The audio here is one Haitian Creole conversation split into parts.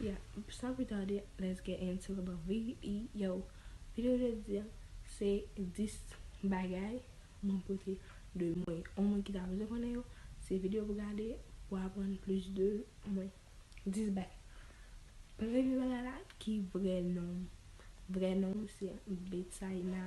Yeah stop retarded let's get into the video Video jodi a se 10 bagay mwen pote de mwen On moun ki ta bezwen konnen yo se video pou gade pou aprann plis de mwen 10 bagay Premye bagay la ki vrè non m Vrè non m se Betsaïna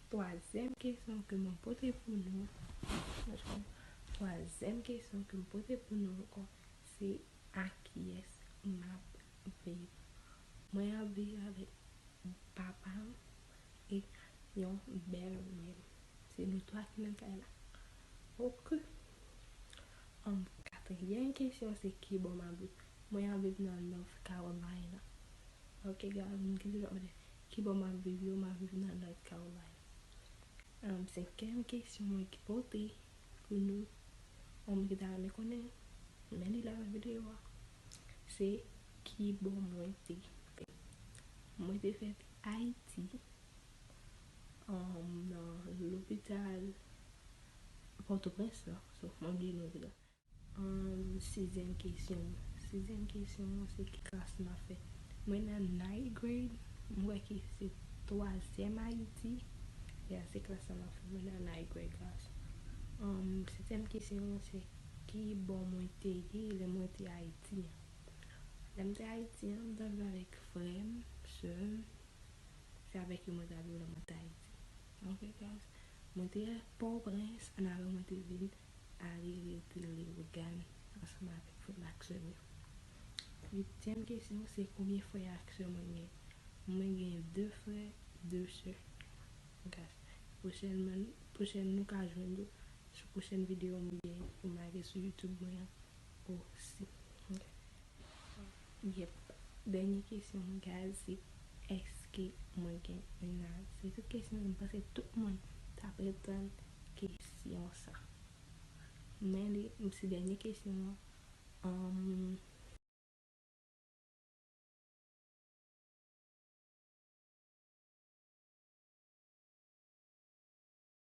Twazyèm kesyon ke mwen pote pou nou, twazyèm kesyon ke m pote pou nou ankò, se akiyès m ap viv? Mwen ap viv avèk papa m e yon bèl mè m. Se nou twa ki nan kay la. Ok. Anm, katriyèm kesyon se kibò m ap viv? Mwen ap viv nan North Carolina. Ok, gade m ki jan m ap viv. Kibò map viv yo map viv nan North Caroline um senkyèm kesyon mwen ki pote pou nou ou moun ki ta renmen konnen men li la nan video a se kibò mwen te fèt mwen te fèt Ayiti um nan lopital pòtoprens lan sof mwen bliye non lopital. Umm sizyèm kesyon an. Sizyèm kesyon an se ki klas map fè. Mwen nan ninth grade, m kwè ki se twazyèm ayiti, ya se klas sa map fè, mwen nan ninth grade class. Umm setyèm kesyon an se ki bò mwen te ye lè mwen te ayiti an. Lè m te ayiti an m ta viv avèk frè m, sè m, se avèk yo mwen ta viv lè mwen t ayiti. Ok guys, mwen te pòtoprens annapre mwen te vin. Ari riw pul riw Gan ansanm avek frem ak sèm yo. Huitième kesyon se konbyen frè ak sè mwen gen? Mwen gen 2 frè 2 sè. Gras. Pwochènman pwochèn nou ka jwenn yo sou pwochèn video mwen gen pou m lage sou YouTube mwen an osi. Yep dènye kesyon gaz se eske mwen gen mennaj se tout kesyon sa m panse tout moun ta pretann kesyon sa men li se dènye kesyon an.